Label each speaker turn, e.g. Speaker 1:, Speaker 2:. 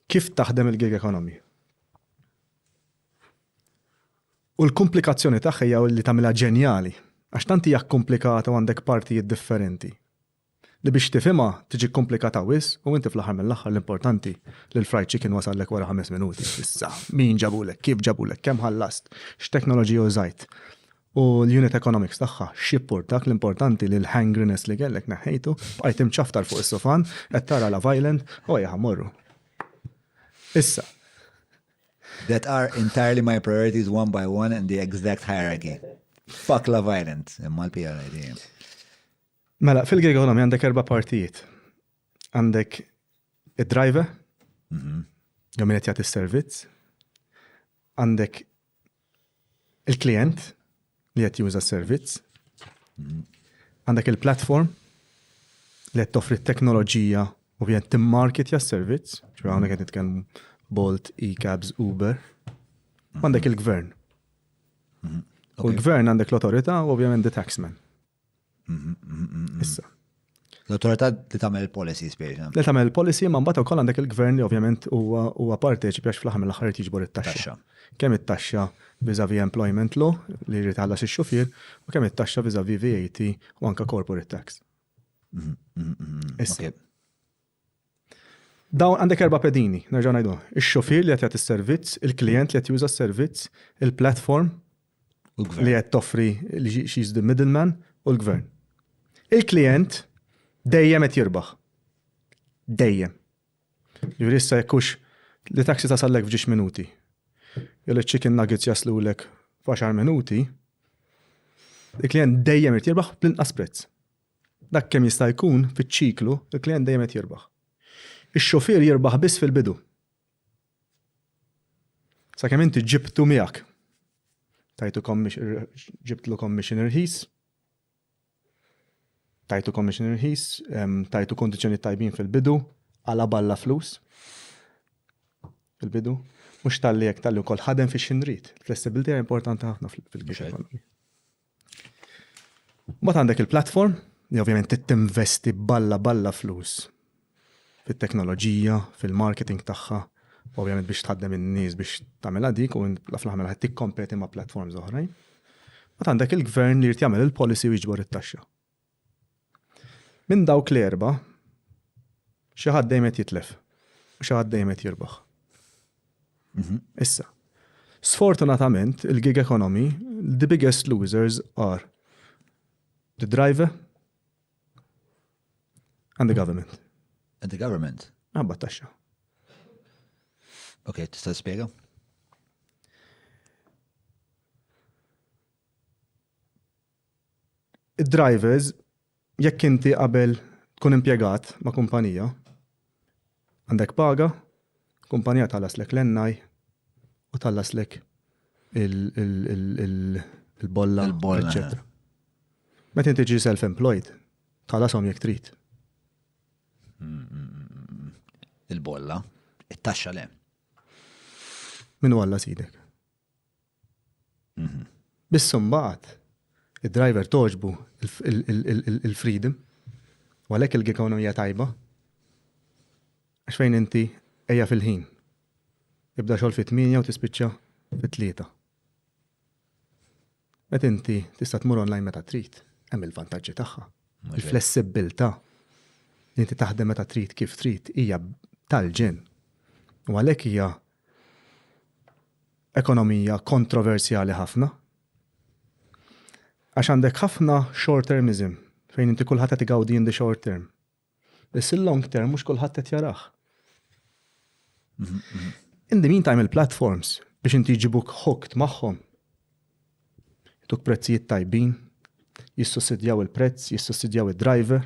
Speaker 1: Kif taħdem il-gig economy? U l-kumplikazzjoni tagħha hija li tagħmilha ġenjali, għax tant hija kkumplikata u għandek partijiet differenti, li biex tifhimha tiġi kkumplikata wisq u inti fl-aħħar mill-aħħar l-importanti li l-fried chicken wasallek wara ħames minuti. Issa, min ġabulek, kif ġabulek, kemm ħallast, x'teknoloġija użajt. U l-unit economics tagħha x'jipport dak l-importanti li l-hangriness li kellek neħħejtu, bqajt imċaftar fuq is-sofan, qed tara la violent, u ejja morru. Issa. That are entirely my priorities one by one in the exact hierarchy. Fuck la violent, imma l-PLA dejjem. Mela, fil-gig economy għandek erba' partijiet. Għandek id-driver, mhm. jew min qed jagħti s-servizz, għandek il-klient li qed juża s-servizz, għandek il-platform li qed toffri t-teknoloġija u qed timmarketja s-servizz, ġifieri hawnhekk qed nitkellmu Bolt, e-cabs, Uber, għandek il-gvern. U l-gvern għandek l-awtorità u ovvjament the taxman. Issa. L-autorità li tagħmel il-policy spejna. Li tagħmel il-policy ma mbagħad ukoll għandek il-gvern li ovvjament huwa huwa parteċipi għax fl-aħħar mill-aħħar qed jiġbor it-taxxa. Kemm it-taxxa viżavi employment law li jrid ħallas ix-xufier u kemm it-taxxa viżavi VAT u anke corporate tax. Mhm, mhm, mhm, Issa. Dawn għandek erba' pedini, nerġa' ngħidu, ix-xufier li qed jagħti s-servizz, il-klijent li qed juża s-servizz, il-platform li qed toffri she's the middleman u l-gvern. Il-klijent dejjem qed jirbaħ. Dejjem. Jiġifieri issa jekk hux li taxi tasallek f'ġiex minuti. Jew iċ-chicken nuggets jaslulek f'għaxar minuti, il-klijent dejjem irid jirbaħ bl-inqas prezz. Dak kemm jista' jkun fiċ-ċiklu, il-klijent dejjem qed jirbaħ. Ix-xufier jirbaħ biss fil-bidu. Sakemm inti ġibtu miegħek. Tajtu ġibtlu commission irħis, tajtu commission irħis, tajtu kondizzjoni tajbin fil-bidu, għala balla flus fil-bidu. Mhux tal-li jekk tal-li wkoll ħadem fix xinrit. Flessibilità importanti ħafna fil-bidu. Mbagħad għandek il-platform li ovvjament tinvesti balla balla flus fit-teknoloġija, fil-marketing tagħha, ovvjament biex tħaddem in-nies biex tagħmilha dik u fl-aħħar qed tikkompeti ma' platforms oħrajn. Mbagħad għandek il-gvern li jrid jagħmel il-policy u jiġbor it-taxxa. Minn dawk l-erba', xi ħadd dejjem qed jitlef u xi ħadd dejjem qed jirbaħ. Mhm. Issa, sfortunatament, il-gig economy, the biggest losers are the driver and the government. And the government? Għabba taxxa. Ok, tista' spiega? Id-drivers, jekk inti qabel tkun impjegat ma' kumpanija, għandek paga, kumpanija tħallaslek l-NI u tħallaslek il-bolla, eccetera. Meta inti ġi self-employed, tħallasom jekk trid. Il-bolla, it-taxxa le. Min walla sidek? Biss imbagħad id-driver togħġbu il-freedom u għalhekk il-gig hawn hija tajba. Għax fejn inti ejja fil-ħin. Ibda xogħol fit-8 u tispiċċa fit-3. Meta inti tista' tmur online meta trid, hemm il-vantaġġi tagħha. Il-flessibbiltà li inti taħdem meta trid kif trid hija tal-ġen. U għalhekk hija ekonomija kontroversjali ħafna. Għax għandek ħafna short termism fejn inti kulħadd qed igawdi in the short term. Biss il-long term mhux kulħadd qed jarah. In the meantime il-platforms biex inti jġibuk hooked magħhom. Tuk prezzijiet tajbin, jissussidjaw il-prezz, jissussidjaw id-driver,